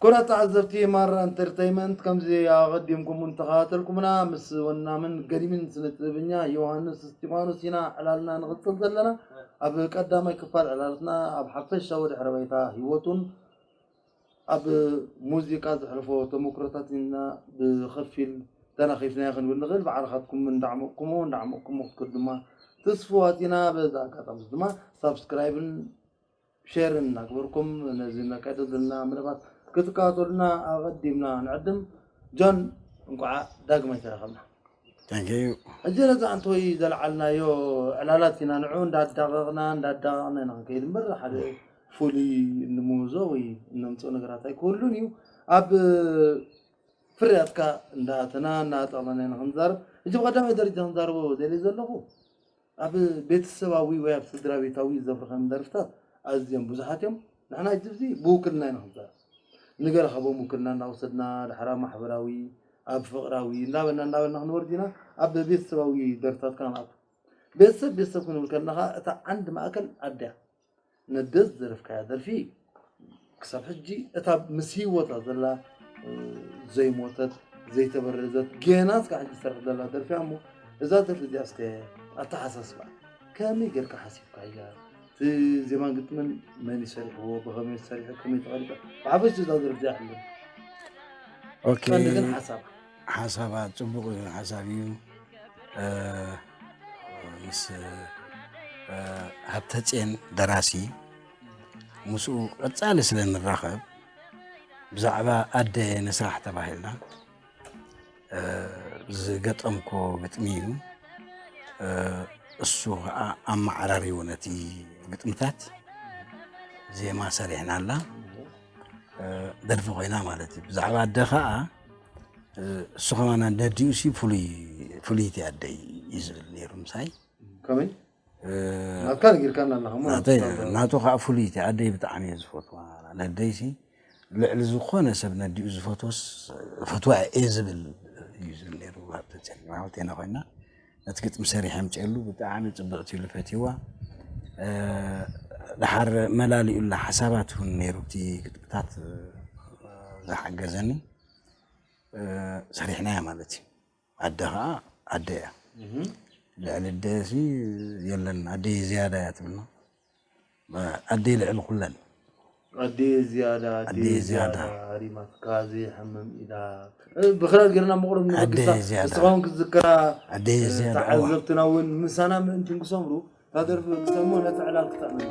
ክቡራት ተዓዘብቲ ማራ ኢንተርተይመንት ከምዚ ኣቐዲምኩም እውን ተኸታተልኩምና ምስ ወናምን ገዲምን ስነ ጥበበኛ ዮሃንስ እስጢፋኖስ ኢና ዕላልና ንቕፅል ዘለና ኣብ ቀዳማይ ክፋል ዕላልትና ኣብ ሓፈሻዊ ድሕረ ባይታ ህይወቱን ኣብ ሙዚቃ ዘሕልፎ ተመኩሮታት ኢና ብኸፊል ተናኺፍናዮ ክንብል ንኽእል። ብዓርኻትኩም እንዳዕሞቕኩሞ እንዳዕሞቕኩሞ ክትከዱ ድማ ትስፉዋት ኢና። በዚ ኣጋጣሚ እዚ ድማ ሳብስክራይብን ሸርን እናግበርኩም ነዚ ነካይዶ ዘለና መደባት ክትከታተሉና ኣቐዲምና ንዕድም። ጆን እንቋዕ ዳግማይ ተራኸብና። እዚረዛ ኣንቶይ ዘልዓልናዮ ዕላላት ኢና ንዑ እንዳዳቐቕና እንዳዳቐቕና ኢና ክንከይድ እምበር ሓደ ፍሉይ እንምህዞ ወይ እነምፅኦ ነገራት ኣይክህሉን እዩ ኣብ ፍርያትካ እንዳኣተና እናጠቕለና ኢና ክንዛረብ እጅ ብቀዳማይ ደረጃ ክንዛረቦ ደልየ ዘለኹ ኣብ ቤተሰባዊ ወይ ኣብ ስድራቤታዊ ዘብርኸም ደርፍታት ኣዝዮም ብዙሓት እዮም። ንሕና ሕጂ ኣብዚ ብውክልና ኢና ክንዛረብ። ንገለ ካብኦም ውክልና እናወሰድና ድሓር ኣብ ማሕበራዊ፣ ኣብ ፍቕራዊ እንዳበልና እንዳበልና ክንወርድ ኢና። ኣብ ቤተሰባዊ ደርፍታት ከኣ ንኣቱ። ቤተሰብ ቤተሰብ ክንብል ከለና ከኣ እታ ዓንዲ ማእከል ኣደ እያ። ነደስ ዝደረፍካያ ደርፊ ክሳብ ሕጂ እታ ምስ ሂወታ ዘላ ዘይሞተት ዘይተበረዘት ገና እስካ ሕጂ ዝሰርሕ ዘላ ደርፊ እያ እሞ እዛ ደርፊ እዚኣ እስከ ኣተሓሳስባ ከመይ ጌርካ ሓሲብካያ እቲ ዜማን ግጥምን መን እዩ ሰሪሕዎ ብኸመይ ሰሪሑ ከመይ ተቐሪፃ ብሓፈሽ እዛ ደርፊ እዚኣ ሕልም ቀንዲ ግን ሓሳብ ሓሳባ ፅቡቅ ሓሳብ እዩ ምስ ሃብተፅየን ደራሲ ምስኡ ቀፃሊ ስለ ንራኸብ ብዛዕባ ኣደ ንስራሕ ተባሂልና ዝገጠምኮ ግጥሚ እዩ እሱ ከዓ ኣመዓራሪዎ ነቲ ግጥምታት ዜማ ሰሪሕናላ ደርፊ ኮይና ማለት እዩ ብዛዕባ ኣደ ከዓ እሱ ከማና ደዲኡ ሲ ፍሉይ ፍልይቲ ኣደይ እዩ ዝብል ነይሩ ምሳይ ከመይ ናትካ ነጊርካና ኣለካ እሞ ናተይ ናቱ ከዓ ፍሉይቲ ኣደይ ብጣዕሚ እየ ዝፈትዋ ነደይ ሲ ልዕሊ ዝኾነ ሰብ ነዲኡ ዝፈትወስ ፈትዋ እየ ዝብል እዩ ዝብል ነይሩ ሃብተ ፀሊም ሓወቴና ኮይና ነቲ ግጥሚ ሰሪሐ ኣምጺኤሉ ብጣዕሚ ጽብቕቲ ኢሉ ፈትይዋ ድሓር መላሊኡላ ሓሳባት እውን ነይሩ እቲ ግጥምታት ዝሓገዘኒ ሰሪሕናያ ማለት እዩ ኣደ ከዓ ኣደ እያ ልዕሊ ኣደ የለን ኣደ ዝያዳ እያ ትብልና ኣደይ ልዕሊ ኩለን። ኣደየ ዝያዳ ኣደየ ዝያዳ ሃሪማትካ ዘየሕምም ኢዳ ብክራር ጌርና ምቕሩብ ንበግሳ ንስኻ ውን ክትዝክራ ተዓዘብትና ውን ምሳና ምእንቲ ንክሰምሩ እታ ደርፊ ክሰምዑ ነቲ ዕላል ክጥዕምና።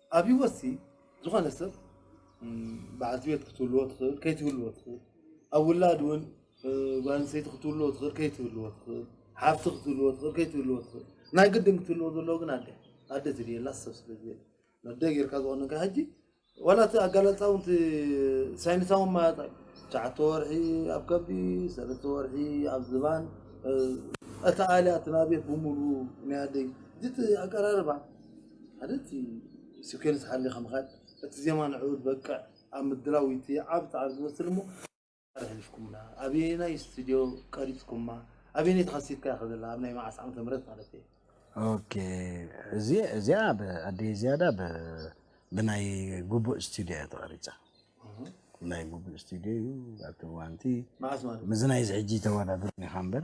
ኣብ ህይወትሲ ዝኾነ ሰብ በዓልቲ ቤት ክትህልዎ ትኽእል ከይትህልዎ ትኽእል፣ ኣብ ውላድ እውን ጓል ኣንስተይቲ ክትህልዎ ትኽእል ከይትህልዎ ትኽእል፣ ሓፍቲ ክትህልዎ ትኽእል ከይትህልዎ ትኽእል፣ ናይ ግድን ክትህልዎ ዘለዎ ግን ኣደ ኣደ ዝድየላ ሰብ ስለ ዝየለ ኣደ ጌርካ ዝኾነካ ሕጂ ዋላ እቲ ኣጋላልፃ እውን እቲ ሳይንሳዊ ማለት እዩ ትሽዓተ ወርሒ ኣብ ከብዲ ሰለስተ ወርሒ ኣብ ዝባን እቲ ኣልያ እቲ ናብየት ብምሉ ናይ ኣደይ እቲ ኣቀራርባ ሓደ እቲ ሲኩዌንስ ሓሊኻ ምኻድ፣ እቲ ዜማ ንዕኡ ዝበቅዕ ኣብ ምድላው እቲ ዓቢ ጻዕሪ ዝመስል እሞ ኣበየናይ ጻዕሪ ሕሊፍኩምና፣ ኣበየናይ ስቱድዮ ቀሪጽኩማ፣ ኣበየነይቲ ካሴት ከ እያ ዘላ፣ ኣብ ናይ መዓስ ዓመተ ምህረት ማለተይ እየ። ኦኬ እዚ እዚኣ ብ ኣደይ ዝያዳ ብ ብናይ ጉቡእ ስቱድዮ እያ ተቐሪጻ። ናይ ጉቡእ ስቱድዮ እዩ ኣብቲ እዋንቲ መዓስ ማለት ምስ ናይዚ ሕጂ ተወዳድሩኒ ኢኻ እምበር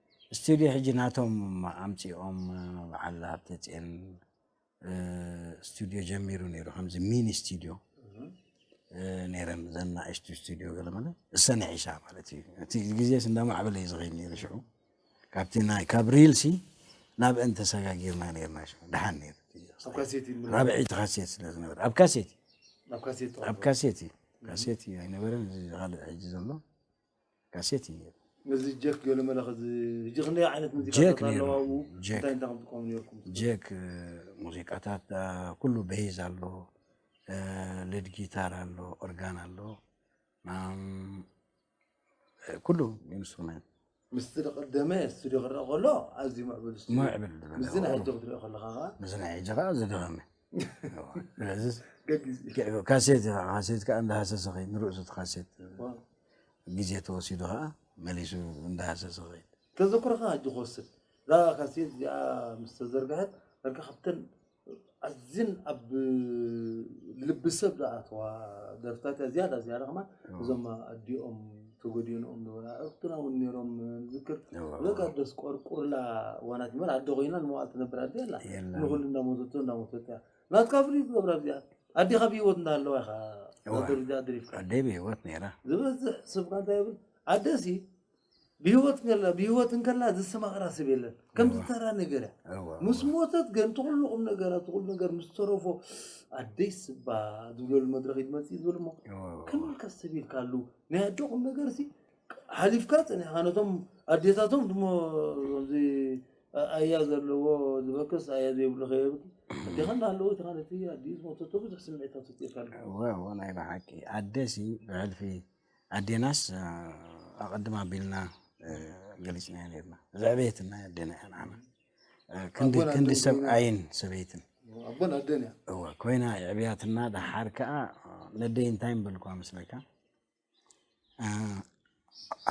ስትድዮ ሕጂ ናቶም ኣምጺኦም በዓል ሃብተጼን ስትድዮ ጀሚሩ ነይሩ ከምዚ ሚኒ ስትድዮ ነይረን እዘን ናእሽቱ ስቱድዮ ገለ ማለት እሰን ይሕሻ ማለት እዩ እቲ ግዜስ እንዳማዕበለ እዩ ዝኸይድ ነይሩ ሽዑ ካብቲ ናይ ካብ ሪልሲ ናብ እን ተሰጋጊርና ነርና ሽዑ ድሓን ነይሩ ራብዒቲ ካሴት ስለ ዝነበረ ኣብ ካሴት ኣብ ካሴት እዩ ካሴት እዩ ኣይነበረን እዚ ካልእ ሕጂ ዘሎ ካሴት እዩ ነይሩ። ነዚ ጀክ ገለ መለኸ ሕጂ ክንደይ ዓይነት ሙዚቃታት ኣለዋ ኣብኡ እንታይ እንታይ ከምትቀሙ ነርኩም? ጀክ ሙዚቃታት ኩሉ ቤዝ ኣሎ፣ ሌድ ጊታር ኣሎ፣ ኦርጋን ኣሎ፣ ኩሉ ኢንስትሩመንት ምስቲ ቀደመ ስቱድዮ ክረአ ከሎ ኣዝዩ ምዕብል ስቱድዮ ምዕብል ዝበለ ምስዚ ናይ ሕጂ ክትሪኦ ከለኻ ከኣ ምስዚ ናይ ሕጂ ከኣ ዝገረመ ካሴት ካሴት ከዓ እንዳሃሰሰ ከይድ ንርእሱ እቲ ካሴት ግዜ ተወሲዱ ከዓ መሊሱ እንዳሃሰሰ ከይድ ተዘክሮኻ ሕጂ ክወስድ እዛ ካሴት እዚኣ ምስ ተዘርግሐት ዳርጋ ካብተን ኣዝን ኣብ ልቢ ሰብ ዝኣተዋ ደርፍታት እያ ዝያዳ ዝያዳ ከማን እዞም ኣዲኦም ተጎዲኖም ነበራ ኣርክትና ውን ነሮም ዝክር በቃ ደስ ቆርቁርላ ዋናት መር ኣደ ኮይና ንመዋል ትነብር ኣደ ኣላ ንኩሉ እንዳሞተቶ እንዳሞተት እያ ናትካ ፍልይ ትገብራ እዚኣ ኣዴኻ ብሂወት እንዳለዋ ኢኻ ደረጃ ድሪፍካ ኣደ ብሂወት ነራ ዝበዝሕ ሰብካ እንታይ ይብል ኣደሲ ብሂወት ከላ ብሂወት እንከላ ዘሰማቅራ ሰብ የለን ከምዚ ተራ ነገር እያ ምስ ሞተት ግን ትኩሉ ቁም ነገራ ትኩሉ ነገር ምስ ተረፎ ኣደይ ስባ ዝብለሉ መድረክ ይመፅእ ዝብል እሞ ከመይካ ሰብ ኢልካሉ ናይ ኣደ ቁም ነገርሲ ሓሊፍካ ጸኒሕካ ነቶም ኣዴታቶም ድሞ ከምዚ ኣያ ዘለዎ ዝበክስ ኣያ ዘይብሉ ከየብኪ ኣዴኻ እናሃለወ እቲ ካልእ እቲ ኣዲኡ ዝሞተቶ ብዙሕ ስምዒታት ውፅኢካ ኣሎ እወ እወ ናይ ብሓቂ ኣደሲ ብሕልፊ ኣዴናስ ኣቐድም ኣቢልና ገሊፅናዮ ነርና ዘዕበየትና ኣዴና እያ ንዓና ክንዲ ክንዲ ሰብኣይን ሰበይትን ኣቦን ኣደን እያ እወ ኮይና የዕብያትና ደሓር ከዓ ነደይ እንታይ ምበልኳ መስለካ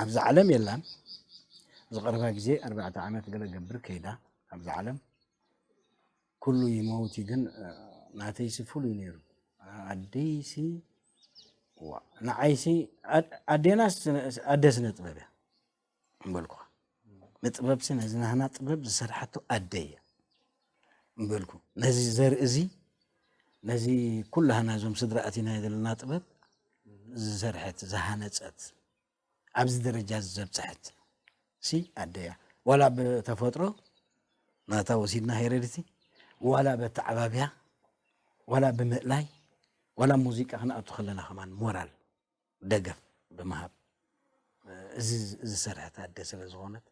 ኣብዚ ዓለም የላን ዝቐረባ ግዜ ኣርባዕተ ዓመት ገለ ገብር ከይዳ ኣብዚ ዓለም ኩሉ ይመውቲ ግን ናተይሲ ፍሉይ ነይሩ ኣደይሲ ንዓይሲ ኣዴናስ ኣደ ስነ ጥበብ እያ እምበልኩ። ንጥበብሲ ነዚ ናህና ጥበብ ዝሰርሓቶ ኣደ እያ እምበልኩ። ነዚ ዘርኢ እዚ ነዚ ኩላህና እዞም ስድራ ኣቲናዮ ዘለና ጥበብ ዝሰርሐት ዝሃነፀት ኣብዚ ደረጃ እዚ ዘብፅሐት ሲ ኣደ እያ ዋላ ብተፈጥሮ ናታ ወሲድና ሄረድቲ ዋላ በተዓባብያ ዋላ ብምእላይ ዋላ ሙዚቃ ክንኣቱ ከለና ከማን ሞራል ደገፍ ብምሃብ እዚ ዝሰርሐት ኣደ ስለ ዝኾነት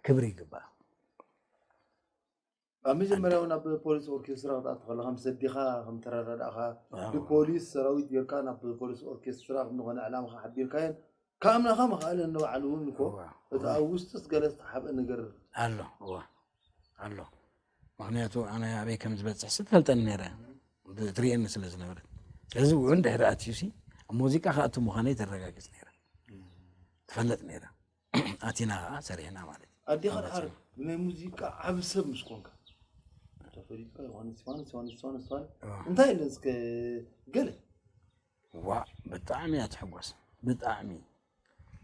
ክብሪ ይግባእ። ኣብ መጀመርያ እውን ኣብ ፖሊስ ኦርኬስትራ ክትኣቱ ከለካ ምስ ኣዴኻ ከም ተረዳዳእኻ ብፖሊስ ሰራዊት ጌርካ ናብ ፖሊስ ኦርኬስትራ ንኾነ ዕላማኻ ሓቢርካየን ካብ ኣምላኻ መኻእለ ንባዕሉ እውን እኮ እቲ ኣብ ውስጢ ገለ ዝተሓብአ ነገር ኣሎ እዋ ኣሎ ምክንያቱ ኣነ ኣበይ ከም ዝበፅሕ ስትፈልጠኒ ነረ ትርእየኒ ስለ ዝነበረ ስለዚ እውን ድሕሪ ኣትዩሲ ኣብ ሙዚቃ ክኣቱ ምዃነይ ተረጋግፅ ነረ ትፈለጥ ነረ ኣቲና ከዓ ሰሪሕና ማለት እዩ ኣዴኻ ድሓር ብናይ ሙዚቃ ዓብ ሰብ ምስ ኮንካ ተፈሊጥካ ዮሃንስ ዮሃንስ ዮሃንስ ዮሃንስ እንታይ ኢለ እስከ ገለ ዋእ ብጣዕሚ እያ ትሕጎስ ብጣዕሚ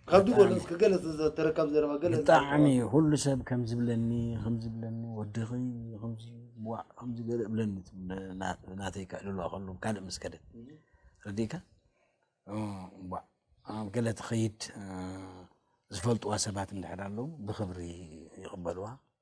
ካብ ድሮ ብጣዕሚ እስኪ ገለ ዝተረካብ ዘረባ ገለ እስኪ ብጣዕሚ ኣስተውዓል ኩሉ ሰብ ከም ዝብለኒ ከም ዝብለኒ ወድኺ ከምዚ ዋእ ከምዚ ገለ እብለኒ ና- ናተይ ከዕልሉዋ ከሎ ካልእ ምስ ከደ ረዲእካ እ፣ ዋእ ኣብ ገለ ትኸይድ እ፣ ዝፈልጥዋ ሰባት እንድሕር ኣለዉ ብኽብሪ ይቕበልዋ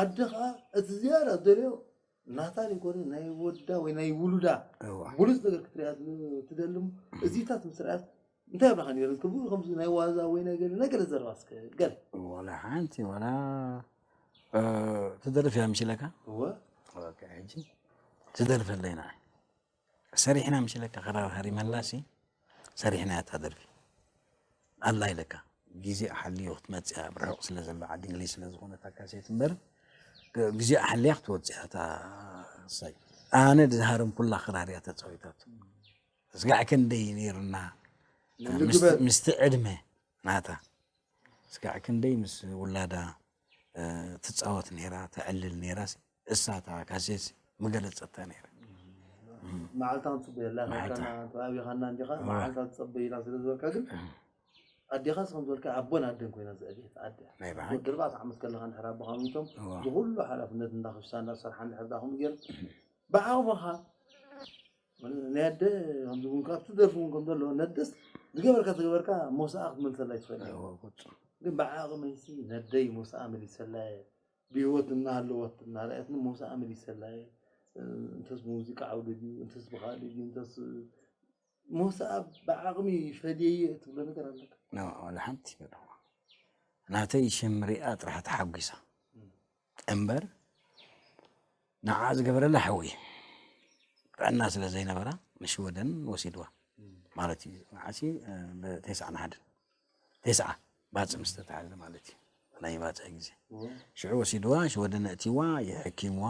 ኣደ ከኣ እቲ ዝያዳ ትደልዮ ናታ ዘይኮነ ናይ ወዳ ወይ ናይ ውሉዳ ብሉጽ ነገር ክትርእያ ትደሊ እሞ እዚታት ምስ ረኣየት እንታይ ኣብላካ ነይሩ ትብል ከምዚ ናይ ዋዛ ወይ ናይ ገለ ናይ ገለ ዘረባ እስከ ገለ ዋላ ሓንቲ ዋላ ትደርፍ እያ መሲለካ እወ ኦኬ ሕጂ ትደርፈለይ ንዓይ ሰሪሕና ምሽ ኢለካ ክራር ሃሪመላሲ ሰሪሕናያ እታ ደርፊ ኣላ ኢለካ ግዜ ኣሓልዮ ክትመፅያ ኣብ ርሑቕ ስለ ዘሎ ዓዲ እንግሊዝ ስለ ዝኾነት ኣካሴት እምበር ግዜ ኣሓልያ ክትወፅያ እታ ሳይ ኣነ ዝሃረምኩላ ክራር እያ ተፃዊታቱ ስጋዕ ክንደይ ነይርና ምስቲ ዕድመ ናታ ስጋዕ ክንደይ ምስ ውላዳ ትፃወት ነይራ ተዕልል ነይራ እሳ እታ ጋዜት ምገለጸታ ነይረ መዓልታ ንፅበየላ ከካና ተባቢኻና እንዲኻ መዓልታ ትፀበይና ስለ ዝበልካ ግን ኣዴኻ ስከም ዝበልካ ኣቦን ኣደን ኮይና ዝዕብየት ኣደ ወዲ ኣርባዕተ ዓመት ከለካ ንድሕር ኣቦኻ ሚቶም ብኩሉ ሓላፍነት እንዳክሽታ እንዳሰርሓ ንድሕር ዳኹም ገይር ብዓቕምኻ ናይ ኣደ ከምዚ እውን ካብቲ ደርፊ እውን ከም ዘለዎ ነደስ ዝገበርካ ዝገበርካ ሞሳኣ ክትመልሰላ ይትኽእል ግን ብዓቕመይሲ ነደይ ሞሳኣ መሊሰላ እየ ብህይወት እናሃለወት እናርኣየትኒ ሞሳኣ መሊሰላ እየ። እንተስ ብሙዚቃ ዓውዲ ድዩ እንተስ ብኻልእ ድዩ እንተስ ሞሳኣ ብዓቕሚ ፈድየዮ እትብሎ ነገር ኣለካ? ኖእ ዋላ ሓንቲ በልኩዋ። ናተይ ሽም ሪኣ ጥራሕ ተሓጒሳ እምበር ንዓ ዝገበረላ ሓውየ ጥዕና ስለ ዘይነበራ ንሽወደን ወሲድዋ ማለት እዩ ንዓሲ ብቴስዓ ንሓድን ቴስዓ ባፅ ምስ ተታሓዘ ማለት እዩ ናይ ባፅዕ ግዜ ሽዑ ወሲድዋ ሽወደን እእትዋ የሕኪምዋ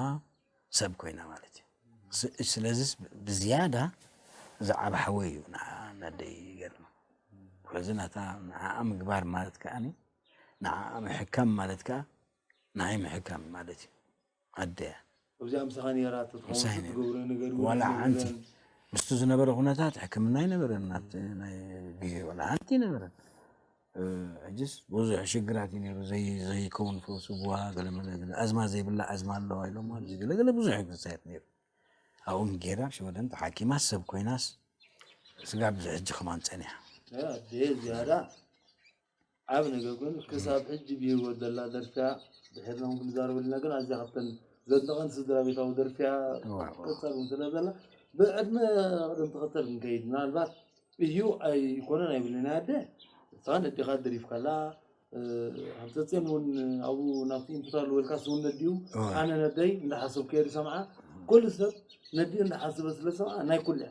ሰብ ኮይና ማለት እዩ ስለዚ ብዝያዳ ዝዓብ ሓወ እዩ ንዓ ነደይ ገርማ ስለዚ ናታ ንዓኣ ምግባር ማለት ከዓኒ ንዓኣ ምሕካም ማለት ከዓ ንዓይ ምሕካም ማለት እዩ ኣደ ምሳይ ነይራ። ዋላ ሓንቲ ምስቲ ዝነበረ ኩነታት ሕክምና ኣይነበረን ኣብቲ ናይ ግዜ ዋላ ሓንቲ ኣይነበረን። ሕጅስ ብዙሕ ሽግራት እዩ ነይሩ ዘይከውን ፈውሲ ቡዋ ገለ መለ ገለ ኣዝማ ዘይብላ ኣዝማ ኣለዋ ኢሎማ እዚ ገለ ገለ ብዙሕ እዩ ክሳየድ ነይሩ። ኣብኡ ጌራ ሽወደን ተሓኪማ ሰብ ኮይናስ ስጋብ እዚ ሕጂ ከማን ጸኒሓ። ዓቢ ነገር ኮይኑ ክሳብ ሕጂ ብሂወት ዘላ ደርፊያ ድሒርና ውን ክንዛረበሉና ግን ኣዝያ ካብተን ዘድንቀን ስድራቤታዊ ደርፊያ ትቅጸል ውን ስለ ዘላ ብዕድመ ቅደም ተከተል ክንከይድ ምናልባት እዩ ኣይኮነን ኣይብልን ናይ ኣደ ንስካ ነዴካ ደሪፍካላ ሃብተጼን እውን ኣብኡ ናብቲ ኢንፑት ኣለዎ ኢልካ ስውን ነዲኡ ኣነ ነደይ እንዳሓሰብኩ እየ ዝሰምዓ ኩሉ ሰብ ነዲኡ እንዳሓሰበ ስለ ዝሰምዓ ናይ ኩሉ እያ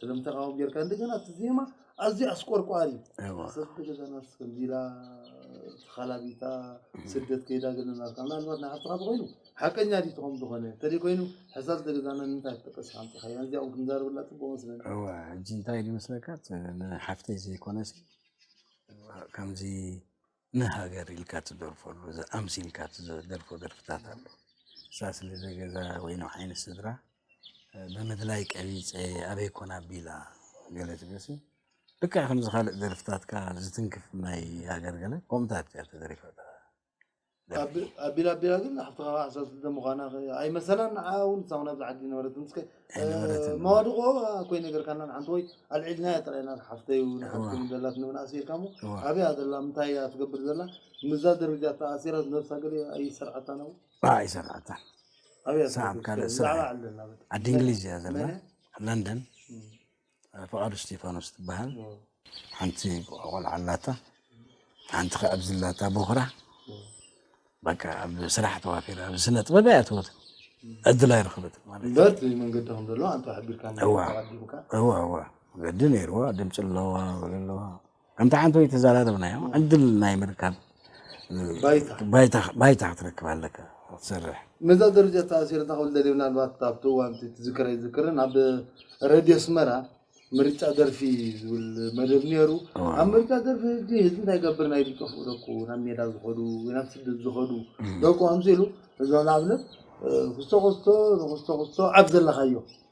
ስለም ተቃውም ጌርካ እንደገና እቲ ዜማ ኣዝዩ ኣስቆርቋሪ ሰብ ተገዛናት ከምዚላ ተኻላቢታ ስደት ከይዳ ገለናልካ ምናልባት ንሓፍትኻ ተኮይኑ ሓቀኛ ድዩ ትኸም ዝኾነ እንተደይ ኮይኑ ሕሳብ ዝተገዛና ንምንታይ ትጠቀስ ኢኻ ምፅሓያ እዚኣ እውን ክንዛረበላ ፅቡቅ መስለኒ እዋ ሕጂ እንታይ ኢሉ መስለካ ንሓፍተይ ዘይኮነስ ከምዚ ንሃገር ኢልካ ትደርፈሉ ኣምሲልካ ትደርፎ ደርፍታት ኣሎ ንሳ ስለ ዘገዛ ወይ ንዓይ ንስድራ ብምድላይ ቀቢፀ ኣበይ ኮን ኣቢላ ገለ ትብልሲ ልክዕ ከምዚ ካልእ ደርፍታትካ ዝትንክፍ ናይ ሃገር ገለ ከምኡታት እያ ተደሪፋ ኣቢላ ኣቢላ ግን ሓፍትኻ ሓሳብ ስደት ምዃና ኣይመሰላን ንዓ እውን ንሳ እውን ኣብዚ ዓዲ ይነበረት ኣይነበረትን መዋድቆ ኣኮይ ነገርካና ንሓንቲ ወይ ኣልዒልናያ ጥራይ ኢና ሓፍተይ ውን ሓትኩም ደላትኒ ውን ኣሲርካ እሞ ኣበይ እያ ዘላ ምንታይ እያ ትገብር ዘላ ምዛ ደረጃ ተኣሲራ ነብሳ ገለ ኣይሰርዓታን ኣብኡ ኣይሰርዓታን ኣበይ እያ ትነብር ብዛዕባ ዓዲ እንግሊዝ እያ ዘላ ለንደን ፍቃዱ እስቲፋኖስ ትበሃል ሓንቲ ቆልዓ ኣላታ ሓንቲ ከ ኣብዚ ኣላታ ቦኽራ በቃ ኣብ ስራሕ ተዋፊራ ኣብ ስነ ጥበብ እያ ትወት ዕድል ኣይረኸበትን ማለት እዩ በት መንገዲ ከም ዘሎ ኣንተ ሓቢርካ እዋ እዋ እዋ መገዲ ነይርዋ ድምፂ ኣለዋ ወለ ኣለዋ ከምቲ ሓንቲ ወይ ተዘራረብናዮ ዕድል ናይ ምርካብ ባይታ ክትረክብ ኣለካ ክትሰርሕ ነዛ ደረጃ ተኣሲሩ እንታይ ክብል ደልዩ ምናልባት ኣብቲ እዋን ትዝክረ ይዝክርን ኣብ ረድዮ ኣስመራ ምርጫ ደርፊ ዝብል መደብ ነይሩ ኣብ ምርጫ ደርፊ ህጂ ህዝቢ እንታይ ገብር ናይ ዝጠፍኡ ደቁ ናብ ሜዳ ዝኸዱ ወይ ናብ ስደት ዝኸዱ ደቁ ከምዚ ኢሉ እዛ ንኣብነት ክስቶ ክስቶ ንክስቶ ክስቶ ኣብ ዘለካዮ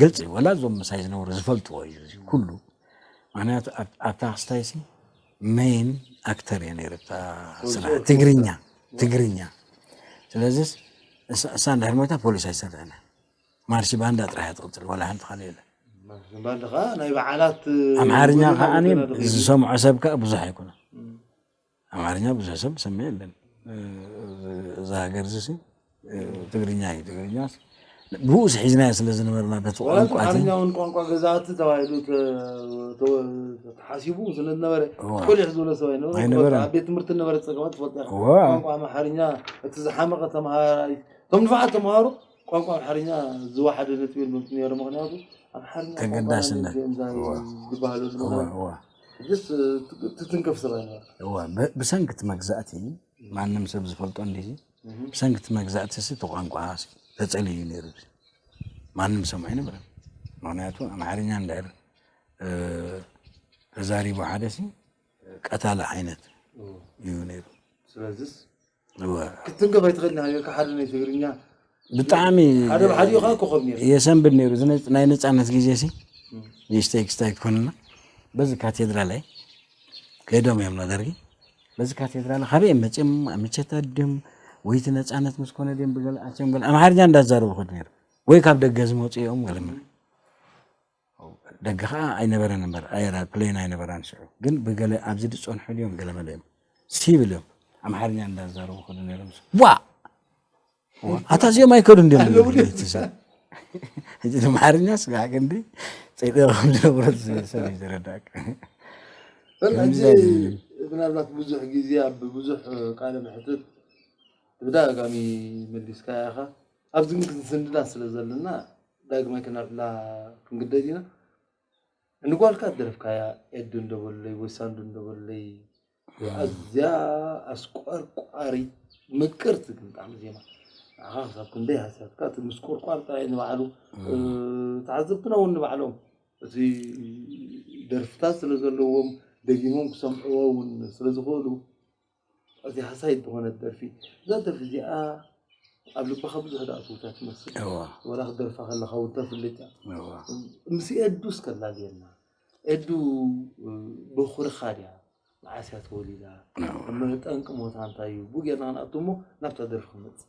ግልፂ እዩ ወላ እዞም ምሳይ ዝነበሩ ዝፈልጥዎ እዩ እዚ ኩሉ ምክንያቱ ኣብታ ክስታይ ሲ መይን ኣክተር እየ ነይረ ብታ ስራሕ ትግርኛ ትግርኛ ስለዚ እሳ እንድሕር ሞይታ ፖሊስ ኣይሰርሕን ማርሲ ባንዳ ጥራሕ ትቕፅል ወላ ሓንቲ ካልእ የለ ባንዳ ከዓ ናይ በዓላት ኣምሓርኛ ከዓ ዝሰምዖ ሰብ ከዓ ብዙሕ ኣይኮነ ኣማርኛ ብዙሕ ሰብ ዝሰምዕ የለን እዛ ሃገር እዚ ሲ ትግርኛ እዩ ትግርኛ ብኡስ ሒዝናዮ ስለ ዝነበርና በቲ ቋንቋ ኣማርኛውን ቋንቋ ገዛእቲ ተባሂሉ ተሓሲቡ ስለ ዝነበረ ኮሊሕ ዝበለ ሰብ ኣይነበረ ኣብ ቤት ትምህርቲ ነበረ ፀገማት ትፈልጥ ቋንቋ ኣምሓርኛ እቲ ዝሓመቐ ተምሃራይ እቶም ንፋዓት ተምሃሩ ቋንቋ ኣምሓርኛ ዝወሓደ ነጥቢ የልቦም ነይሩ ምክንያቱ ኣምሓርኛ ተገዳስነት ዝበሃሉ ሕጅስ ትትንክፍ ስለነበርካ። እወ፣ ብሰንኪ እቲ መግዛእቲ፣ ማንም ሰብ ዝፈልጦ እንድዩ፣ ብሰንኪ እቲ መግዛእቲ እቲ ቋንቋ ተጸልዩ እዩ ነይሩ፣ ማንም ዝሰምዖ ኣይነበረን። ምክንያቱ ኣምሓርኛ እንድሕር ተዛሪቡ ሓደ ቀታሊ ዓይነት እዩ ነይሩ። ስለዚስ ክትንከፍ ኣይትኽእልን ሃገርካ ሓደ ናይ ትግርኛ ብጣዕሚ ሓደ ብሓዲኡ ከዓ ኮኸብ ነይሩ የሰንብድ ነይሩ ናይ ነፃነት ግዜ ሲ ንእሽተይ ክስታይ ክኾንና በዚ ካቴድራል ኣይ ከይዶም እዮም ነደርጊ በዚ ካቴድራል ካበይ እዮም መፅኦም ኣመቸታ ድም ወይቲ ነፃነት ምስ ኮነ ድም ብገልኣቸም ገለ ኣምሓርኛ እንዳዛረቡ ክድ ነይሩ ወይ ካብ ደገ ዝመፁ እዮም ገለ ደገ ከኣ ኣይነበረን እምበር ኣየራት ፕሌን ኣይነበራን ሽዑ ግን ብገለ ኣብዚ ዝጸንሑ ድዮም ገለመለ እዮም ሲቪል እዮም ኣምሓርኛ እንዳዛረቡ ከዱ ነይሮም ዋ ኣታ እዚኦም ኣይከዱ እንዲዮም ሕጂ ኣምሓርኛ ስጋዕ ክንዲ ጸይጠረ ከም ዝነብረ ሰብ እዩ ዝረዳእካ ሕጂ ምናልባት ብዙሕ ግዜ ኣብ ብዙሕ ቃለ መሕትት ብተደጋጋሚ መሊስካ ኢኻ ኣብዚ ግን ክንስንዳ ስለ ዘለና ዳግማይ ክነዕላ ክንግደድ ኢና። ንጓልካ ደርፍካያ ኤዱ እንዶ በሉለይ ወይ ሳንዱ እንዶ በሉለይ ኣዝያ ኣስቆርቋሪት ምቅርቲ ግን ብጣዕሚ ዜማ ንዓኻ ክሳብ ክንደይ ሃስያትካ እቲ ምስቁርቋር ጥራይ ንባዕሉ ተዓዘብትና እውን ንባዕሎም እቲ ደርፍታት ስለ ዘለዎም ደጊሞም ክሰምዕዎ እውን ስለ ዝኽእሉ ኣዝያ ሃሳዪት ዝኾነት ደርፊ እዛ ደርፊ እዚኣ ኣብ ልብኻ ብዙሕ ዝኣተወታ ትመስል ወላ ክትደርፋ ከለኻ እውን ተፍልጥ እያ ምስ ኤዱ እስከ ላልየና ኤዱ በኹርኻ ድያ መዓስ እያ ተወሊዳ ጠንቂ ሞታ እንታይ እዩ ብኡ ጌርና ክንኣቱ እሞ ናብታ ደርፊ ክንመፅእ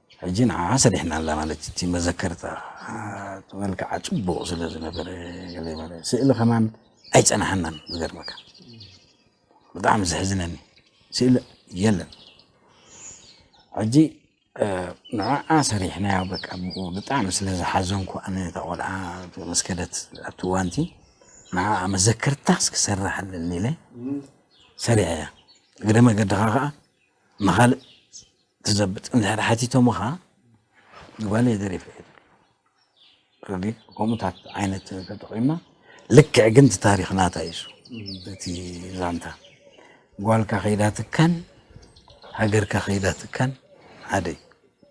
ሕጂ ንዓዓ ሰሪሕና ኣላ ማለት እዩ እቲ መዘከርታ እቲ መልክዓ ጽቡቅ ስለ ዝነበረ ገለ ማለት ስእሊ ከማን ኣይጸናሓናን ዝገርመካ ብጣዕሚ ዘሕዝነኒ ስእሊ የለን ሕጂ ንዓዓ ሰሪሕናዮ በቃ ብጣዕሚ ስለ ዝሓዘንኩ ኣነ እታ ቆልዓ መስከደት ኣብቲ እዋንቲ ንዓዓ መዘከርታስ ክሰርሕ ኣለኒ ኢለ ሰሪሐያ እግረ መገድኻ ከዓ ንኻልእ ትዘብጥ እንድሕር ሓቲቶምኻ ንጓለይ ደሪፈ እየ ትብል ከምኡታት ዓይነት ተጠቒምና ልክዕ ግን እቲ ታሪክ ናታ እዩ እቲ ዛንታ ጓልካ ከይዳ ትካን ሃገርካ ከይዳ ትካን ሓደ እዩ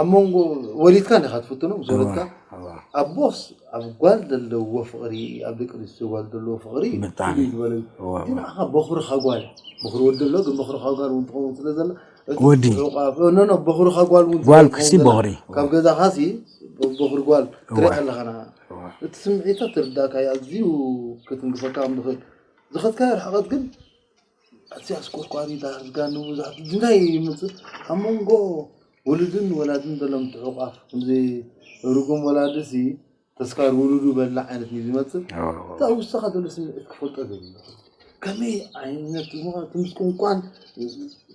ኣብ መንጎ ወሊድካ እንዲኻ ትፍትኖ ምስ ወለድካ ኣቦስ ኣብ ጓል ዘለዎ ፍቕሪ ኣብ ደቂ ኣንስትዮ ጓል ዘለዎ ፍቕሪ ፍልይ ዝበለ እዩ ግን ንዓኻ በኹርኻ ጓል በኹሪ ወዲ ኣሎ ግን በኹርኻ ጓል እውን ትኸውን ስለ ዘላ ወዲ በኹርኻ ጓል እውን ጓል ክሲ በኹሪ ካብ ገዛኻ ሲ በኹሪ ጓል ትሪኢ ኣለኻ ንዓ እቲ ስምዒታ ትርዳእካ እዩ ኣዝዩ ክትንክፈካ ከም ዝኽእል ዝኸትካዮ ርሕቐት ግን ኣዝያ ኣስቆርቋሪት ኣስጋኒ ብዙሓት እንታይ ይምፅእ ኣብ መንጎ ወለድን ወላድን ዘሎ ምትሕቑቓፍ ከምዚ ርጉም ወላዲሲ ተስካር ውሉዱ በላ ዓይነት እዩ ዝመፅእ እቲ ኣብ ውሽጥኻ ዘሎ ስምዒት ክፈልጦ ደልዩ ከመይ ዓይነት ትምስቁንቋን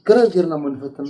ክረር ጌርና እሞ ንፈትና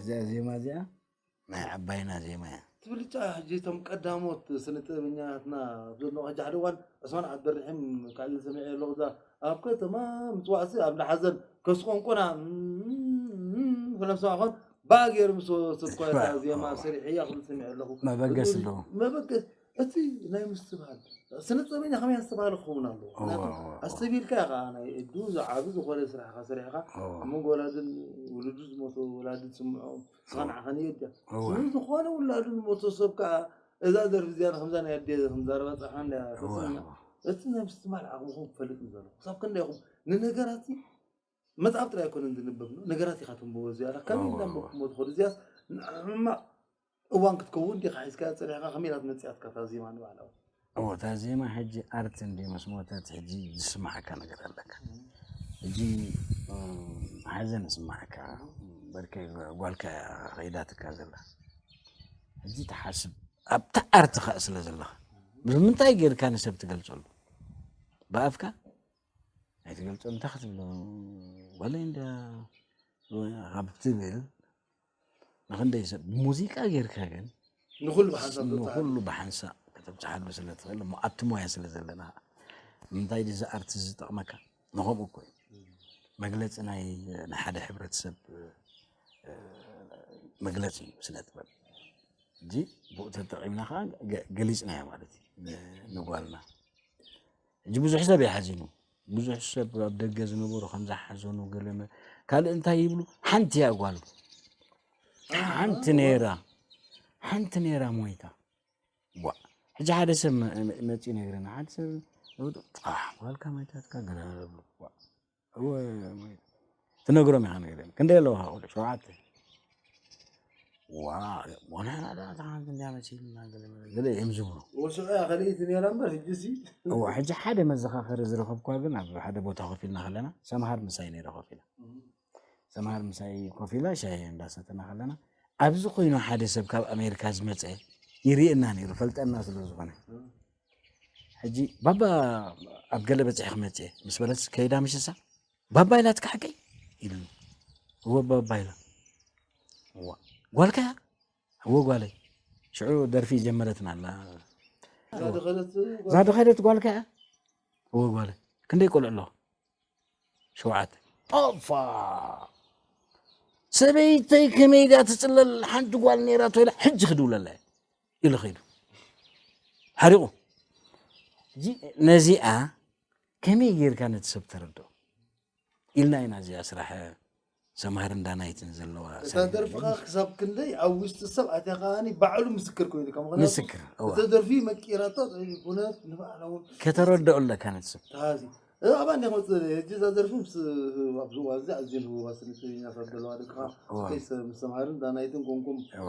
እዛ ዜማ እዚኣ ናይ ዓባይና ዜማ እያ ትብልጫ ሕጂ እቶም ቀዳሞት ስነ ጥበበኛትና ዘለዋ ሕጂ ሓደ እዋን ዕስማን ዓብደርሒም ካልእ ዝሰሚዐ ኣለኹ እዛ ኣብ ከተማ ምፅዋዕሲ ኣብ ላሓዘን ከስ ቆንቆና ስለሰማዕ ኮን ባእ ገይሩ ምስ ወሰድኳ እታ ዜማ ሰሪሐያ ክብል ሰሚዐ ኣለኹ መበገስ ኣለዎ መበገስ እቲ ናይ ምስትብሃል ስነጥበበኛ ከመይ ዝተባህለ ክኸውን ኣለዎ ኣስተቢልካ ኢኻ ናይ እዱ ዝዓብ ዝኾነ ስራሕካ ሰሪሕካ መንጎ ወላድን ውሉዱ ዝሞተ ወላዲ ዝስምዖ ዝኸንዓኸን እየ ድያ ዝኾነ ውላዱ ዝሞተ ሰብ ከዓ እዛ ደርፊ እዚኣ ከምዛ ናይ ኣዴ ከምዛረባ ፀርሓ እንዳ ተሰምያ እቲ ናይ ምስትብሃል ዓቕምኹም ክፈልጥ ንዘለኹ ክሳብ ክንደይኹም ንነገራት መጽሓፍ ጥራይ ኣይኮነን ዝንበብ ነገራት ኢኻ ተንብቦ እዚኣ ኢኻ ከመይ ኣዋ፣ እንዳንበብኩሞ ትኸዱ እዚኣስ ንሕማቕ እዋን ክትከውን ዲኻ ሒዝካያ ጸኒሕካ ከመይ ኢላ ትመጽያትካ እታ ዜማ ንባዕላ ውን እወ እታ ዜማ ሕጂ ኣርት እንድዩ ምስ ሞተት ሕጂ ዝስምዓካ ነገር ኣለካ ሕጂ እም፣ ሓዘን ይስምዓካ በርከይ ጓልካ እያ ከይዳትካ ዘላ ሕጂ ትሓስብ ኣብታ ኣርትኻ ስለ ዘለኻ ብምንታይ ጌርካ ንሰብ ትገልጸሉ ብኣፍካ ኣይትገልፆን እንታይ ክትብሎ ወለይ እንድያ ካብ ትብል ንክንደይ ሰብ ሙዚቃ ጌርካ ግን ንኩሉ ብሓንሳእ ንኩሉ ብሓንሳእ ከተብፅሓሉ ስለ ትኽእል እሞ ኣብቲ ሞያ ስለ ዘለና ንምንታይ ድዚ ኣርቲ ዝጠቕመካ ንከምኡ እኮ እዩ መግለፂ ናይ ናይ ሓደ ሕብረተሰብ መግለፂ እዩ ስነ ጥበብ እዚ ብኡ ተጠቒምና ከዓ ገሊፅናዮ ማለት እዩ ንጓልና ሕጂ ብዙሕ ሰብ ይሓዚኑ ብዙሕ ሰብ ኣብ ደገ ዝነበሩ ከም ዝሓዘኑ ገለመ ካልእ እንታይ ይብሉ ሓንቲ እያ ጓል ሓንቲ ነይራ ሓንቲ ነይራ ሞይታ ዋ ሕጂ ሓደ ሰብ መፂ ነግረና ሓደ ሰብ ጓልካ ሞይታትካ ገለ ብሉ ትነግሮም ኢኻ ነገር ክንደይ ኣለዋ ቆልዑ ሸውዓተ እዮም ዝብሉ ሕጂ ሓደ መዘኻኸሪ ዝረኸብኳ ግን ኣብ ሓደ ቦታ ኮፍ ኢልና ከለና ሰምሃር ምሳይ ነይረ ኮፍ ኢላ ሰምሃር ምሳይ ኮፍ ኢላ ሻሂ እንዳሰተና ከለና ኣብዚ ኮይኑ ሓደ ሰብ ካብ ኣሜሪካ ዝመፀ ይርእየና ነይሩ ፈልጠና ስለዝኾነ ሕጂ ባባ ኣብ ገለ በፂሒ ክመፅእ እየ ምስ በለትስ ከይዳ ምሽሳ ባባ ኢላ ትካሓቀይ ኢሉኒ እወ ባባ ኢላ እዋ ጓልካ እያ እወ ጓለይ ሽዑ ደርፊ ጀመረትና ኣላ እዛ ድኸደት ጓልካ እያ እወ ጓለይ ክንደይ ቆልዑ ኣለዋ ሸውዓተ ኦፋ ሰበይተይ ከመይ ድያ ትፅለል ሓንቲ ጓል ነይራ ተይላ ሕጂ ክድውለላ እየ ኢሉ ኸይዱ ሓሪቑ ነዚኣ ከመይ ጌርካ ነቲ ሰብ ተረድኦ ኢልና ኢና እዚኣ ስራሕ ሰምሃር እንዳናይትን ዘለዋ እታ ደርፍኻ ክሳብ ክንደይ ኣብ ውሽጢ ሰብ ኣትያ ከዓኒ ባዕሉ ምስክር ኮይኑ ከም ምክንያቱ ምስክር እዋ እተ ደርፊ መቂራታ ኩነት ንባዕላ እውን ከተረድኦ ኣለካ ነቲ ሰብ ተሃዚ እዚ ኣብ ኣንዴ ክመፅእ ደለየ ሕጂ እዛ ደርፊ ምስ ኣብ ዝዋ እዚ ኣዝየን ህቡባት ስኒትኛታት ዘለዋ ደቅኻ እዋ። ስከይ ምስ ሰምሃርን ዳናይትን ኮንኩም እዋ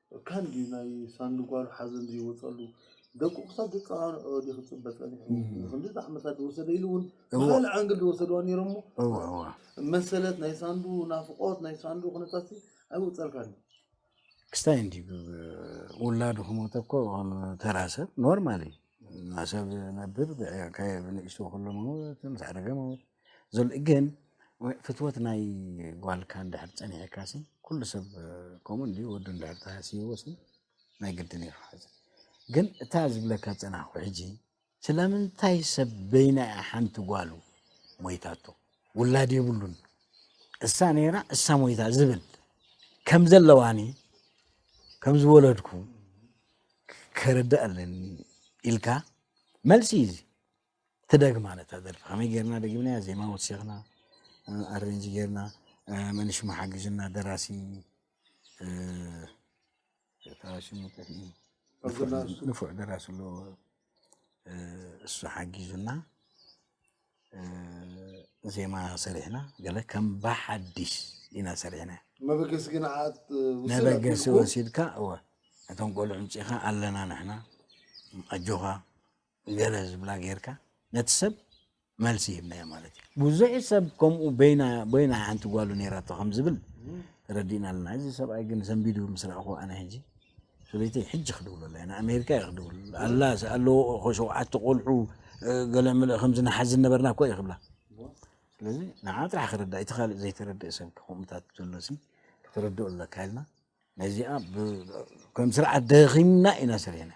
ካን ድዩ ናይ ሳንዱ ጓሉ ሓዘን ዘይወጸሉ ደቁ ክሳብ ዘጸናንዕኦ ድዩ ክጽበ ጸኒሑ ንክንድዚ ዓመታት ዝወሰደ ኢሉ ውን ብካልእ ዓንግል ዝወሰድዋ ኔሮሞ መሰለት ናይ ሳንዱ ናፍቆት ናይ ሳንዱ ኩነታትሲ ኣይወጸልካን እዩ። ክስታይ እንዲ ውላዱ ክሞተ እኮ ከም ተራ ሰብ ኖርማል እዩ። ናብ ሰብ ነብር ብዕካየ ብንእሽቱ ክሉ መውት ምስ ዓረገ መውት። ዘሎ ግን ፍትወት ናይ ጓልካ እንድሕር ጸኒሕካ ሲ ኩሉ ሰብ ከምኡ እንድዩ ወዱ እንድሕር ተሃስይዎ ሲ ናይ ግድን እዩ ክሓዝ ግን እታ ዝብለካ ጸናሕኩ ሕጂ ስለምንታይ ሰብ በይና እያ ሓንቲ ጓሉ ሞይታቶ ውላድ የብሉን እሳ ነይራ እሳ ሞይታ ዝብል ከም ዘለዋኒ ከም ዝወለድኩ ከረዳእ ኣለኒ ኢልካ መልሲ እዩ ትደግማ ነታ ደርፊ ከመይ ጌርና ደጊምናያ ዜማ ወሲኽና ኣሬንጅ ጌርና መን ሽሙ ሓግዥና ደራሲ እታ ሽሙ ንፉዕ ደራሲ ኣሎ እሱ ሓጊዙና ዜማ ሰሪሕና ገለ ከም ብሓዲሽ ኢና ሰሪሕና መበገሲ ግን ዓት መበገሲ ወሲድካ እወ እቶም ቆልዑ ምፅኢኻ ኣለና ንሕና ኣጆኻ ገለ ዝብላ ጌርካ ነቲ ሰብ መልሲ ሂብናዮ ማለት እዩ። ብዙሕ ሰብ ከምኡ በይና በይና ሓንቲ ጓሉ ነይራቶ ከም ዝብል ተረዲእና ኣለና። እዚ ሰብኣይ ግን ሰንቢዱ ምስ ረኣኹዎ ኣነ ሕጂ ሰበይተይ ሕጂ ክድውለላ እየ ንኣሜሪካ እየ ክድውል ኣላ ኣለዎ ሸውዓተ ቆልዑ ገለ ምልእ ከምዚ ንሓዝን ነበርና እኮ እየ ክብላ ስለዚ ንዓ ጥራሕ ክርዳእ እቲ ካልእ ዘይተረድእ ሰብ ከምኡታት ዘሎሲ ክትርድኡ ኣለካ ኢልና ነዚኣ ከም ስርዓት ደኺምና ኢና ሰሪሕና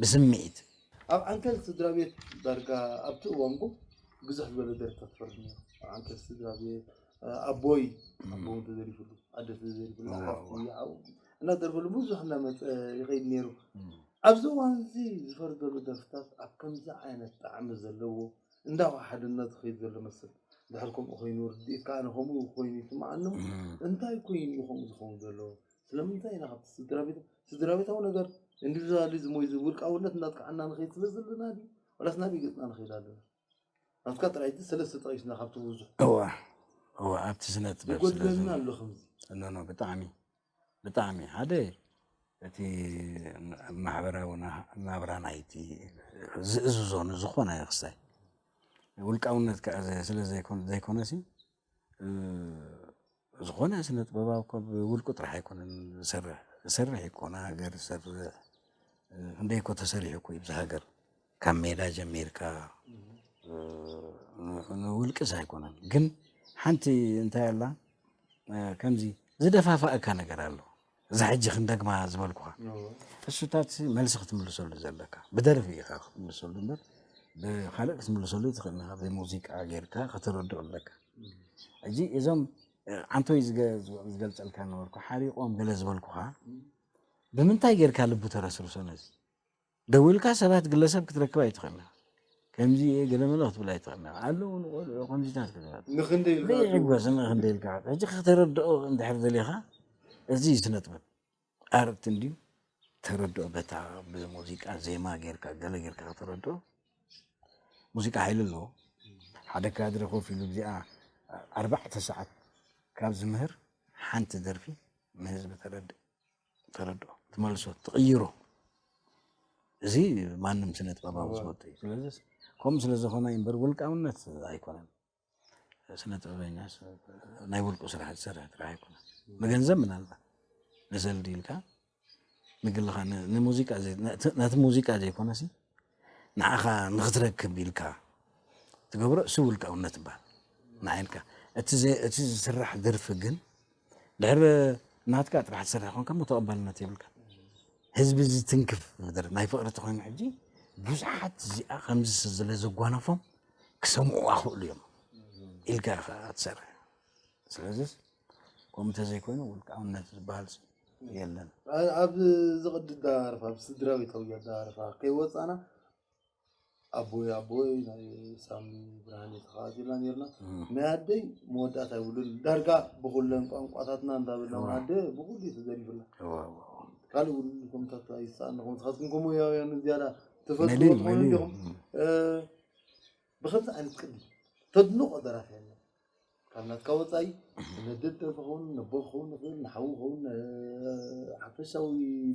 ብስምዒት። ኣብ ዓንኬል ስድራቤት ዳርጋ ኣብቲ እዋን ቡብ ብዝሕ ዝበለ ደርፍታት ይፈርድ ነይሩ። ኣብ ዓንኬል ስድራቤት ኣቦይ ኣቦ ተዘሪፍሉ፣ ኣደ ተዘሪፍላ፣ ሓፍቲ፣ ሓው እናተደርፈሉ ብዙሕ እናመጸ ይኸይድ ነይሩ። ኣብዚ እዋን እዚ ዝፈርድ ዘሎ ደርፍታት ኣብ ከምዚ ዓይነት ጣዕሚ ዘለዎ እንዳዋ ሓድነት ዝኸይድ ዘሎ መስል። ድሕሪ ከምኡ ኮይኑ ርድኢት ከዓ ንከምኡ ኮይኑ ይስምዓኒ እሞ እንታይ ኮይኑ እዩ ከምኡ ዝኸውን ዘሎ ስለምንታይ ኢና ካብቲ ስድራ ቤት ስድራ ቤታዊ ነገር ኢንዲቪዝዋሊዝም ወይ ውልቃውነት እናጥቃዕና ንኸይድ ስለ ዘለና ድዩ ዋላስ ናበይ ገፅና ንኸይድ ኣለና ናትካ ጥራይ እቲ ሰለስተ ጠቂስና ካብቲ ብዙሕ እዋ እዋ ኣብቲ ስነ ጥበብ ይጎድለና ኣሎ ከምዚ ኖ ኖ ብጣዕሚ ብጣዕሚ ሓደ እቲ ማሕበራዊ ናብራ ናይቲ ዝእዝዞ ንዝኾነ ክስታይ ውልቃውነት ክኣ ስለ ዘይኮነሲ ዝኾነ ስነ ጥበባዊ እኮ ብውልቁ ጥራሕ ኣይኮነን ዝሰርሕ ዝሰርሕ እዩ እኮ ንሃገር ዝሰርሕ ክንደይ እኮ ተሰሪሑ እኮ እዩ እዛ ሃገር። ካብ ሜዳ ጀሚርካ ንውልቅስ ኣይኮነን ግን ሓንቲ እንታይ ኣላ ከምዚ ዝደፋፋእካ ነገር ኣሎ እዚ ሕጂ ክንደግማ ዝበልኩኻ እሱታት መልሲ ክትምልሰሉ ዘለካ ብደርፊ ኢኻ ክትምልሰሉ እምበር ብካልእ ክትምልሰሉ ትኽእል ኢኻ ብሙዚቃ ጌርካ ከተረድኦ ኣለካ ሕጂ እዞም ዓንቶይ ዝገልፀልካ ነበርኩ ሓሪቆም ገለ ዝበልኩኻ ብምንታይ ጌርካ ልቡ ተረስርሶ ነዚ ደዊልካ ሰባት ግለሰብ ክትረክብ ኣይትኽእልናን ከምዚ እየ ገለመለ ክትብል ኣይትኽእልናን ኣለዉ ንቆልዑ ከምዚታት ክትብል ንኽንደይ ኢልካ ዘይዕገስ ንኽንደይ ኢልካ ዓዱ ሕጂ ከተረድኦ እንድሕር ደሊኻ እዚ ስነጥበብ ኣርት እንድዩ ተረድኦ በታ ብሙዚቃ ዜማ ጌርካ ገለ ጌርካ ከተረድኦ ሙዚቃ ሓይሊ ኣለዎ ሓደ ካድረ ኮፍ ኢሉ እዚኣ ኣርባዕተ ሰዓት ካብ ዝምህር ሓንቲ ደርፊ ንህዝቢ ተረድእ ተረድኦ ትመልሶ ትቕይሮ እዚ ማንም ስነ ጥበባዊ ዝወጡ እዩ ስለዚ ከምኡ ስለ ዝኾነ እምበር ውልቃውነት ኣይኮነን ስነ ጥበበኛ ናይ ውልቁ ስራሕ ዝሰርሕ ጥራሕ ኣይኮነን ንገንዘብ ምናልባት ንዘልዲ ኢልካ ንግልኻ ንሙዚቃ ነቲ ሙዚቃ ዘይኮነሲ ንዓኻ ንኽትረክብ ኢልካ ትገብሮ እሱ ውልቃውነት ይባሃል ንዓይ ኢልካ እቲ ዝስራሕ ደርፊ ግን ድሕር ናትካ ጥራሕ ዝስራሕ ኮንካ እሞ ተቐባልነት የብልካ ህዝቢ ዝትንክፍ መደረ ናይ ፍቕሪ ተኮይኑ ሕጂ ብዙሓት እዚኣ ከምዚ ስለ ዘጓነፎም ክሰምዑ ኣኽእሉ እዮም ኢልካ ኢኻ ትሰርሕ ስለዚ ከምኡ ተዘይኮይኑ ውልቃውነት ዝበሃል የለን። ኣብዚ ቅዲ ኣደራርፋ ኣብ ስድራቤታዊ ኣደራርፋ ከይወፃእና ኣቦይ ኣቦይ ናይ ሳሚ ብርሃነ ተኸታቲልና ነርና ናይ ኣደይ መወዳእታ ይብሉን ዳርጋ ብኩለን ቋንቋታትና እንዳበልና ውን ኣደ ብኩሉ እዩ ተዘሪፉና ካልእ እውን ከምታት ኣይሰኣንኹም ንስኻትኩም ከምኡያውያን ዝያዳ ተፈልጥዎ ትኾኑ እንዲኹም ብከምዚ ዓይነት ቅዲ ተድንቆ ደራፊ የለን ካብ ናትካ ወፃኢ ንመድብ ደርፊ ክኸውን ነቦ ክኸውን ይኽእል ንሓዉ ክኸውን ሓፈሻዊ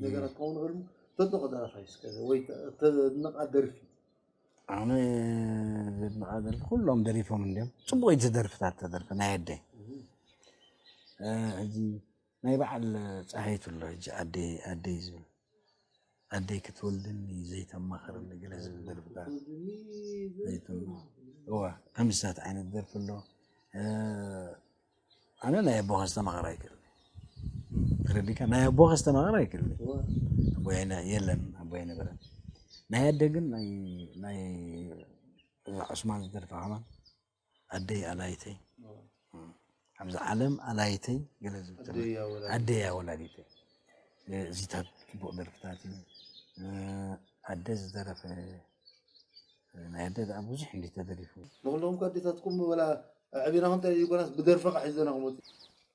ነገራት ክኸውን ይኽእል ተድንቆ ደራፊ ኣይስከ ወይ ተድንቃ ደርፊ ኣነ ዘድንቃ ደርፊ ኩሎም ደሪፎም እንዲዮም ፅቡቅ እዩ ዝደርፍታት ተደርፊ ናይ ኣደይ ሕጂ ናይ በዓል ጸሃይቱ ኣሎ ሕጂ ኣደይ ኣደይ ዝብል ኣደይ ክትወልደኒ ዘይተማኸረኒ ገለ ዝብል ደርፍታት ዘይተማ እዋ ከምስታት ዓይነት ደርፊ ኣሎ ኣነ ናይ ኣቦኻ ዝተማኸረ ኣይክእል ተረዲካ ናይ ኣቦኻ ዝተማኸረ ኣይክእል ኣቦያይና የለን ኣቦያይ ነበረ ናይ ኣደ ግን ናይ ናይ ዑስማን ዝደርፋ ከማን ኣደይ ኣላይተይ ኣብዚ ዓለም ኣላይተይ ገለ ዝብል ዘሎ ኣደይ እያ ወላዲተይ እዚታት ፅቡቕ ደርፍታት እዩ ኣደ ዝደረፈ ናይ ኣደ ደኣ ብዙሕ እንዲ ተደሪፉ ንኩሎም እኳ ኣዴታትኩም ወላ ኣዕቢናኹም እንታይ ዘይኮናስ ብደርፊ ከዓ ሒዘና ክመፁ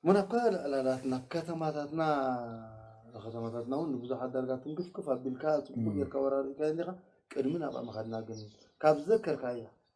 እሞ ናብ ካልእ ዕላላትና ከተማታትና ከተማታትና እውን ንብዙሓት ዳርጋ ትንክፍክፍ ኣቢልካ ፅቡቅ ጌርካ ወራሪእካ እንዲኻ ቅድሚ ናብኣ ምኻድና ግን ካብ ዘከርካያ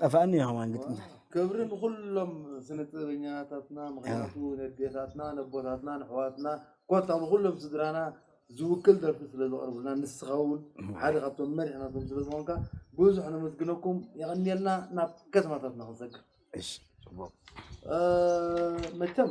ጠፋእኒ የሆዋን ግጥምታት። ክብሪ ንኹሎም ስነ ጥበበኛታትና ምኽንያቱ ነዴታትና ነቦታትና ነሕዋትና ኮታ ንኹሎም ስድራና ዝውክል ደርፊ ስለ ዘቕርቡልና ንስኻ እውን ሓደ ካብቶም መሪሕ ናቶም ስለ ዝኾንካ ብዙሕ ነመስግነኩም የቐንየልና ናብ ከተማታትና ክንሰግር እሺ ጽቡቅ መቸም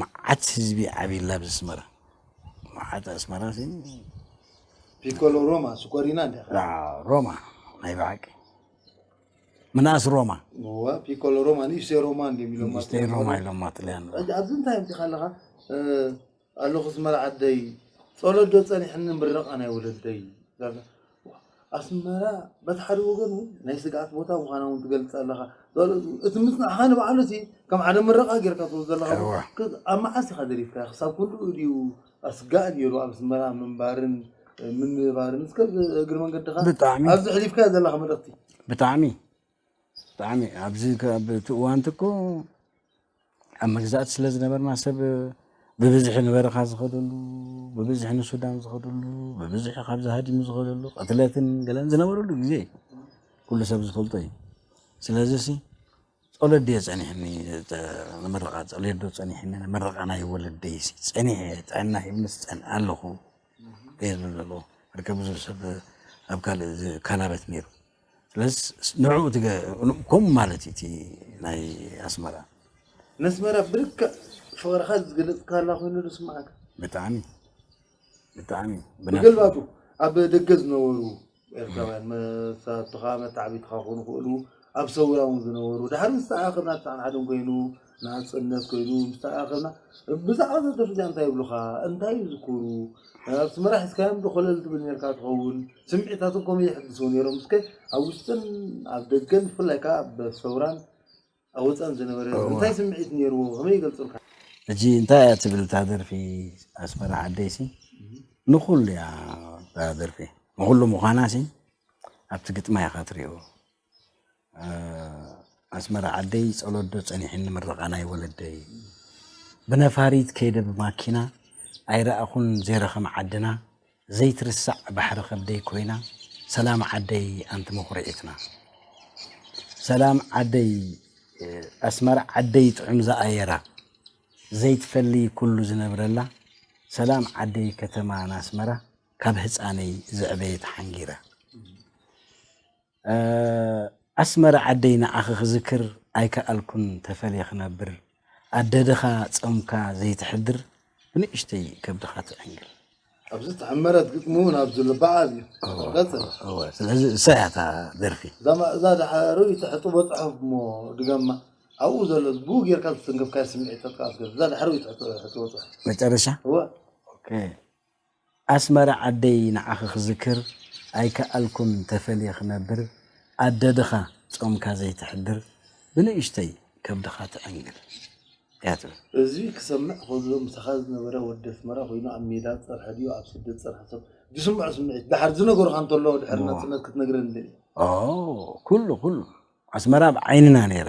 መዓት ህዝቢ ዓብይላ ኣብ ኣስመራ መዓት ኣስመራ ፒኮሎ ሮማ ስኮሪና እንደ ሮማ ናይ ብሓቂ ምናስ ሮማ ፒኮሎ ሮማ ንእሽተይ ሮማ ንእሽተይ ሮማ ኢሎም ማጥልያን ኣብዚ እንታይ ምፅኻ ኣለኻ ኣለኹ ዝመርዓደይ ፀሎት ዶ ፀኒሕኒ ምረቓ ናይ ወለደይ ኣስመራ በቲ ሓደ ወገን እውን ናይ ስግኣት ቦታ ምዃና እውን ትገልፅ ኣለኻ እቲ ምፅናዕኻ ንባዕሉ እቲ ከም ሓደ ምረቓ ጌርካ ትወስዶ ኣለኻ ኣብ መዓስ ኢኻ ደሪፍካ ክሳብ ክንድኡ ድዩ ኣስጋእ ነይሩ ኣብ ኣስመራ ምንባርን ምንባርን እስከ እግሪ መንገድኻ ኣብዚ ሕሊፍካዮ ዘለኻ መልእኽቲ ብጣዕሚ ብጣዕሚ እዩ ኣብዚ ኣብ እቲ እዋን እቲ እኮ ኣብ መግዛእቲ ስለ ዝነበርና ሰብ ብብዝሒ ንበረኻ ዝኸደሉ ብብዝሒ ንሱዳን ዝኸደሉ ብብዝሒ ካብዚ ሃዲሙ ዝኸደሉ ቅትለትን ገለን ዝነበረሉ ግዜ እዩ ኩሉ ሰብ ዝፈልጦ እዩ ስለዚ ሲ ጸሎት ድየ ጸኒሕኒ ንመረቓ ጸሎት ዶ ጸኒሕኒ ንመረቓ ናይ ወለደይ ሲ ጸኒሐ ጥዕና ሂብንስ ጸን ኣለኹ እየ ዝብል ዘለዎ ርከብ ብዙሕ ሰብ ኣብ ካልእ ካናበት ነይሩ ስለዚ ንዕኡ ከምኡ ማለት እዩ እቲ ናይ ኣስመራ ነስመራ ብልክዕ ፍቅርካ ዝገለፅካላ ኮይኑ ዝስማዓካ ብጣዕሚ ብጣዕሚ ብገልባቱ ኣብ ደገ ዝነበሩ ኤርትራውያን መሳቱኻ መታዕቢትኻ ክኾኑ ክእሉ ኣብ ሰውራ እውን ዝነበሩ ድሓር ምስ ተኣኻኸብና ተሓንሓድን ኮይኑ ናጽነት ኮይኑ ምስ ተኣኻኸብና ብዛዕባ እዛ ደርፊ እዚኣ እንታይ ይብሉኻ? እንታይ ይዝክሩ? ኣስመራ ሒዝካዮምዶ ኮለል ትብል ኔርካ ትኸውን? ስምዒታቶም ከመይ የሕድስዎ ኔሮም? እስከ ኣብ ውሽጥን ኣብ ደገን ብፍላይ ከኣ ኣብ ሰውራን ኣብ ወጻእን ዝነበረ ህዝቢ እንታይ ስምዒት ኔርዎ ከመይ ይገልጹልካ? ሕጂ እንታይ እያ ትብል እታ ደርፊ ኣስመራ ዓደይሲ ንኹሉ እያ እታ ደርፊ ንኹሉ ምዃናሲ ኣብቲ ግጥማ ኢኻ ትሪኦ ኣስመራ ዓደይ ጸሎት ዶ ጸኒሕኒ ምርቓ ናይ ወለደይ ብነፋሪት ከይደ ብማኪና ኣይረኣኹን ዘይረኽም ዓድና ዘይትርሳዕ ባሕሪ ከብደይ ኮይና ሰላም ዓደይ ኣንቲ መኹርዒትና ሰላም ዓደይ ኣስመራ ዓደይ ጥዑም ዝኣየራ ዘይትፈሊ ኩሉ ዝነብረላ ሰላም ዓደይ ከተማ ናስመራ ካብ ህፃነይ ዝዕበየት ሓንጊራ ኣስመራ ዓደይ ንዓኺ ክዝክር ኣይከኣልኩን ተፈልየ ክነብር ኣደ ድኻ ጾምካ ዘይትሕድር ብንእሽተይ ከብድኻ ትዕንግል። ኣብዚ ተሐመረት ግጥሚ ውን ኣብዚ ኣሎ በዓል እዩ ቀጽል። ስለዚ እሳ እያ እታ ደርፊ። እዛ ማእዛ ድሓሩ ይትሕጥቦ ጽሑፍ እሞ ድገማ ኣብኡ ዘሎ ብኡ ጌርካ ዝተንከፍካዮ ስምዒት ጠጥቃስ ገር እዛ ድሓሩ ይትሕጥቦ ጽሑፍ መጨረሻ እወ ኣስመራ ዓደይ ንዓኺ ክዝክር ኣይከኣልኩን ተፈልየ ክነብር ኣደ ድኻ ጾምካ ዘይትሕድር ብንእሽተይ ከብድኻ ትዕንግል እያ ትብል። እዚ ክሰምዕ ከሎ ምሳኻ ዝነበረ ወዲ ኣስመራ ኮይኑ ኣብ ሜዳ ዝጸንሐ ድዩ ኣብ ስደት ዝጸንሐ ሰብ ዝስምዖ ስምዒት ድሓር ዝነገሩኻ እንተሎ ድሕሪ ናጽነት ክትነግረኒ ደሊኻ? ኦው ኩሉ ኩሉ ኣስመራ ኣብ ዓይንና ነይራ።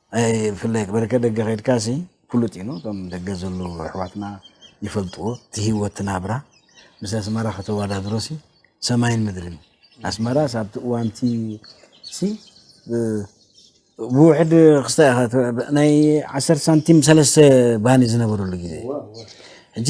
ኣይ ብፍላይ ክበረከት ደገ ከድካሲ ፍሉጥ እዩ ን ቶም ደገ ዘለዉ ኣሕዋትና ይፈልጥዎ እቲ ሂወት እቲ ናብራ ምስ ኣስመራ ከተወዳድሮሲ ሰማይን ምድርን እዩ ኣስመራስ ኣብቲ እዋንቲ ሲ ብውሕድ ክስታይ ኢኻ ናይ ዓሰርተ ሳንቲም ሰለስተ ባኒ ዝነበረሉ ግዜ ሕጂ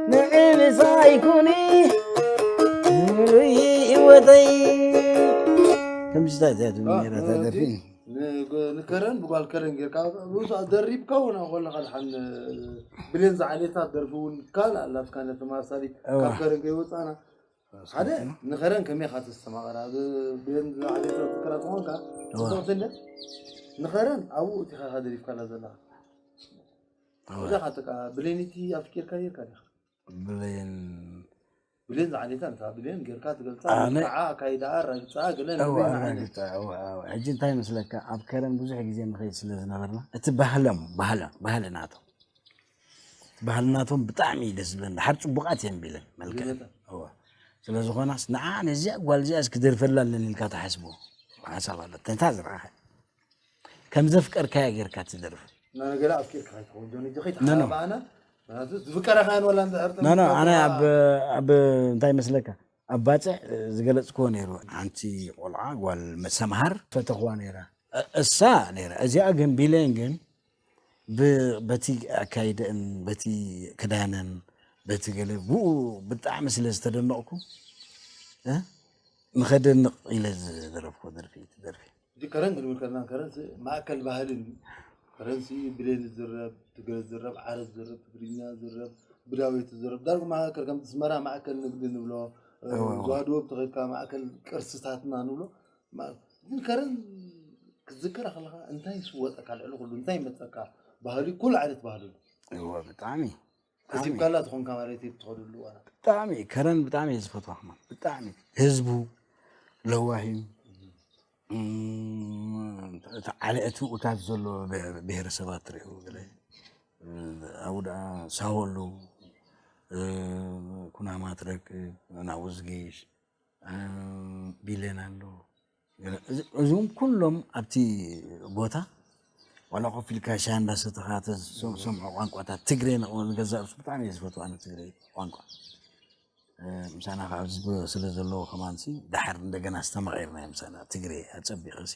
ምዕብሳይ ኩኒ ምሉይ ህይወተይ ከምዚታት እያ ትምኔራ ተደፊ ንከረን ብጓል ከረን ጌርካ ብኡሳ ደሪብካ እውን ኮለካ ድሓን ብሌን ዝዓሌታ ደርፊ እውን ካልእ ኣላትካ ነቲ ማሳሊ ካብ ከረን ከይወፃና ሓደ ንኸረን ከመይ ኢኻ ተስተማቕራ ብሌን ዝዓሌታ ትከራ ትኾንካ ንኸረን ኣብኡ እቲኻ ደሪብካላ ዘለካ እዛ ካተካ ብሌኒቲ ኣፍቂርካ ጌርካ ዲካ ብሌን ብሌን ዝዓሌታ እንታ ብሌን ጌርካ ትገልጻ ኣነ- መልክዓ ኣካይዳኣ ኣራግጻኣ ገለ እዋ ንበይና ዓይነት ኣራግጣ እዋ እዋ ሕጂ እንታይ ይመስለካ ኣብ ከረን ብዙሕ ግዜ ንኸይድ ስለ ዝነበርና እቲ ባህሎም ባህለ ባህሊ ናቶም እቲ ባህሊ ናቶም ብጣዕሚ እዩ ደስ ዝብለን ድሓር ፅቡቃት እየን ቢለን መልክዐን ብመጠን። እዋ ስለ ዝኾናስ ንዓ ነዚኣ ጓል እዚኣስ ክደርፈላ ኣለኒ ኢልካ ትሓስቦ ሓሳብ ኣሎ ተንታ ዝረኣኸ ከምዘፍቀርካያ ጌርካ ትደርፍ ናነገለ ኣፍቂርካ ከይትኸውን ጆኒ እዚ ከይተሓባእና ምክንያቱ ዝፍቀረካን ወላ እንድሕር ኖ ኖ ኣነ ተመኩሮኻ- ኣብ ኣብ እንታይ ይመስለካ ኣብ ባፅዕ ዝገለፅክዎ ነይሩ ሓንቲ ቆልዓ ጓል ሰምሃር ፈተኽዋ ነይራ እ- እሳ ነይራ እዚኣ ግን ቢሌን ግን ብ በቲ ኣካይደእን በቲ ክዳነን በቲ ገለ ብኡ ብጣዕሚ ስለ ዝተደነቕኩ እ ንኸደንቕ ኢለ ዝደረፍኩዎ ደርፊ እዩ እቲ ደርፊ። እቲ ከረን ክንብል ከለና ከረን ሲ ማእከል ባህሊ እንድዩ። ከረን ሲ ብሌን ዝዝረብ፣ ትግረ ዝዝረብ፣ ዓረብ ዝዝረብ፣ ትግርኛ ዝዝረብ፣ ብዳዌት ዝዝረብ ዳርጉ ማእከል ከምቲ ኣስመራ ማእከል ንግዲ ንብሎ፣ እወ እወ። ዞባ ደቡብ ተኸድካ ማእከል ቅርስታትና ንብሎ እምበኣር ዝከርን ክትዝከራ ከለኻ እንታይ ይስወጠካ ልዕሊ ኩሉ እንታይ ይመፀካ ባህሊ ኩሉ ዓይነት ባህሊ እዎ ብጣዕሚ ከሲብካላ ትኾንካ ማለት እዩ ትኸደሉ ብጣዕሚ ከረን ብጣዕሚ እየ ዝፈትዋ ከማ ብጣዕሚ ህዝቡ ለዋሂ እቲ ዓለእቲ ኡታት ዘሎ ብሄረሰባት ትሪኡ ገለ ኣብኡ ደኣ ሳወሉ ኩናማ ትረክብ ናውዝጊሽ ቢሌን ኣሎ እዚም ኩሎም ኣብቲ ቦታ ዋላ ኮፍ ኢልካ ሻሂ እንዳሰተኻ ተሰምዖ ቋንቋታት ትግረ ገዛ ርእሱ ብጣዕሚ እየ ዝፈትው ኣነ ትግረ ቋንቋ ምሳና ከዓ ኣብዚ ስለ ዘለዉ ከማንሲ ደሓር እንደገና ኣስተማቒርናዮም ምሳና ትግረ ኣፀቢቑ ሲ